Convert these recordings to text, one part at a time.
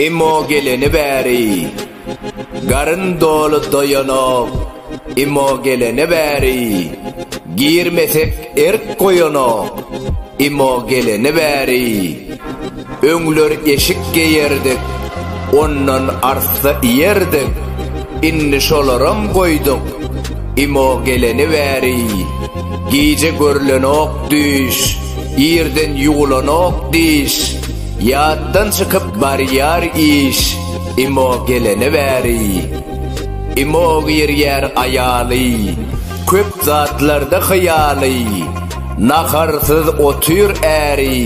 Imo geleni bäri Garyn doly doýanok Imo geleni bäri Girmesek erk goýanok Imo geleni bäri Öňler eşik geýerdik, ondan arssa iýerdik, indi şolaram goýduk. Imo geleni bäri, gije görlenok düýş, irden ýuwlanok diş, ýatdan çykyp barýar iş, Imo geleni bäri. Imo girýär aýaly, köp zatlarda hyýaly, naharsyz otyr äri,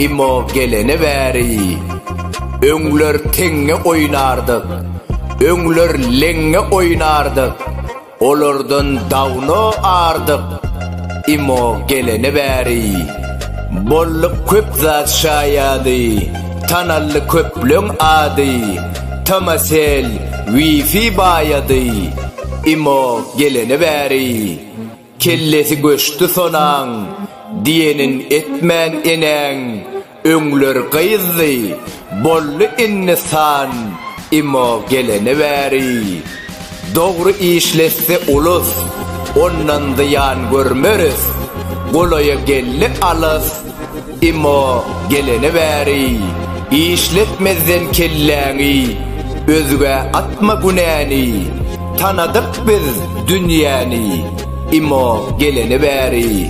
Imo gelene bäri öňler teňňe oýnardyk, öňler leňňe oýnardyk, olardan dawno ardyk. Imo gelene bäri bolluk köp zat şaýady, tanaldy köpleň ady, Tomasel, Wifi baýady. Imo gelene bäri. Kellesi göçdi sonaň, diýenin etmän enäň, öňler gyzdy, boldy indi san, imo gelene bäri. Dogry işletse ulus, ondan zyýan görmeris, golaýa geldi alys, Emma gelene bäri işletmezden kelläňi özgä atma günäni Tanadyk biz dünýäni Emma gelene bäri